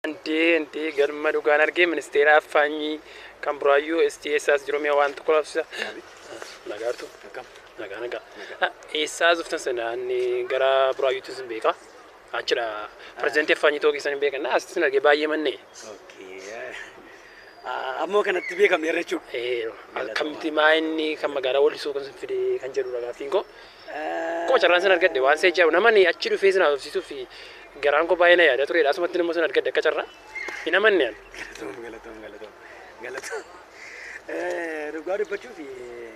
Andee andee galma dhugaan argee ministeera affaanyii kan buraayyuu STSAs jiru mi'a waan tokko laafsisa. Nagaartu nagaa nagaa. Eessaa zuftan sana anni gara buraayyuutti sin beeka. Achidha pirezidantii affaanyii ta'uu keessan hin beekan. As sin argee baay'ee manne. Ammoo kanatti beekamne irra jechuudha. Akkamitti maa inni kan magaalaa wallisuu kan sin fide kan jedhudha gaaffiin koo. Akkuma carraan sin argadhe waan seecha jedhamu namani achi dhufee sin haasofsiisuu fi garaan koo baay'ee na yaada turedha. Asumatti nama sin argadhe akka carraa hin amanne ani. Galatoom galatoom galatoom galatoom. Eh, Dhugaa dubbachuuf eh,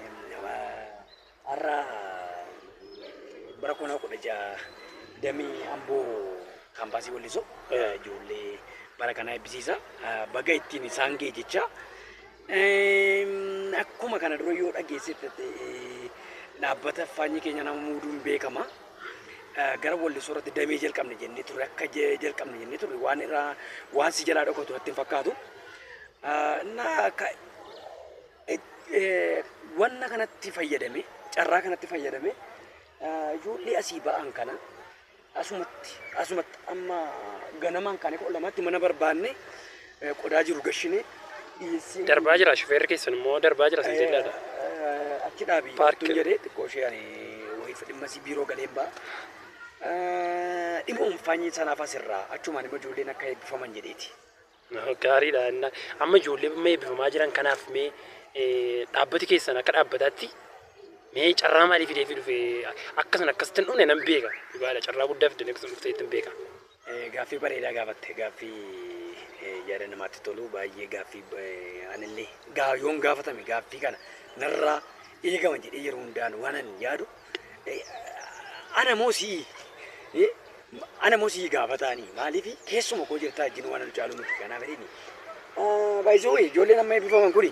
har'a bara kuma kudha ja'a damee amboo kaampaasii wallisoo eh, ijoollee bara kanaa eebbisiisa. Eh, Baga ittiin isaan ga'e jecha Akkuma kana dura yoo dhageessite dhaabbata faanyii keenya nama muuduun beekama. Gara wallisoo irratti damee jalqabne jennee turre akka jalqabne jennee turre waan irraa waan si jalaa dhokatu natti hin fakkaatu. Wanna kanatti fayyadame carraa kanatti fayyadame ijoollee asii ba'an kana Asumatti asumatti amma ganamaan kaanee kudha lamaatti mana barbaannee eh, qodaa jiru gashinee dhiyeessii Darbaa jira shufeerri keessan immoo darbaa jira sin jedhaadha. Eh, achi dhaabii Paarkii. hattuun jedhee xiqqoo ishee ani wayisa dhimma isii biiroo galeen ba'a. Eh, Dhimma umfaanyii sanaaf asirraa achumaan immoo ijoolleen akka eebbifaman jedheeti. Gaariidha. Amma ijoollee mee eebbifamaa jiran kanaaf mee dhaabbati keessan akka dhaabbataatti mee carraa maalii fidee fi dhufe akkasan akkasitti dhufne nan beeka. Dhugaadha carraa guddaa fidanii akkasitti dhuftee ittiin beeka. Gaaffii bareedaa gaafatte gaaffii yaada namaatti tolu baay'ee gaaffii anillee yoon gaafatame gaaffii kana narraa eegama jedhee yeroo hundaan waanan yaadu ana moo si'i Ana mo sii gaafataani maalifi keessuma koo jirtaa ijjin waan anu caaluu miti kanaaf jedhini. By the way ijoolleen amma eebbifaman kuni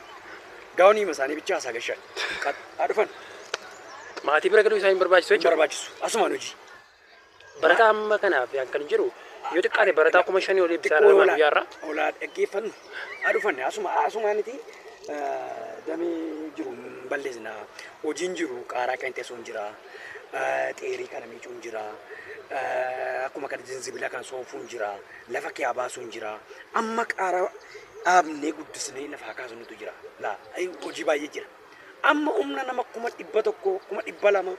gaawonii hima isaanii bichaa hasaa gashan. Haa dhufan Maatii bira galuu isaa hin barbaachisu hin jechuudha. barbaachisu asumaan hojii. Barataa amma kanaaf yaan kan jiru yoo xiqqaate barataa kuma shanii olii bisaa Xiqqoo dha olaa- guyyaarra. olaa dhaggeeffannu haa dhufanne asuma asumaaniti damee jiru hin balleessina hojiin jiru qaaraa qeenxeessuun jira. xeerii kana miicuun jira akkuma kana jinzibila kan soofuun jira lafa kee baasuun jira amma qaara dhaabnee guddisnee lafa haa kaasnutu jira laa hojii baay'ee jira amma humna nama kuma dhibba tokko kuma dhibba lama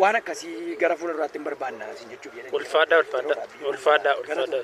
waan akkasii gara fuula duraatti hin barbaanna isin jechuuf jedhan ulfaadhaa ulfaadhaa ulfaadhaa ulfaadhaa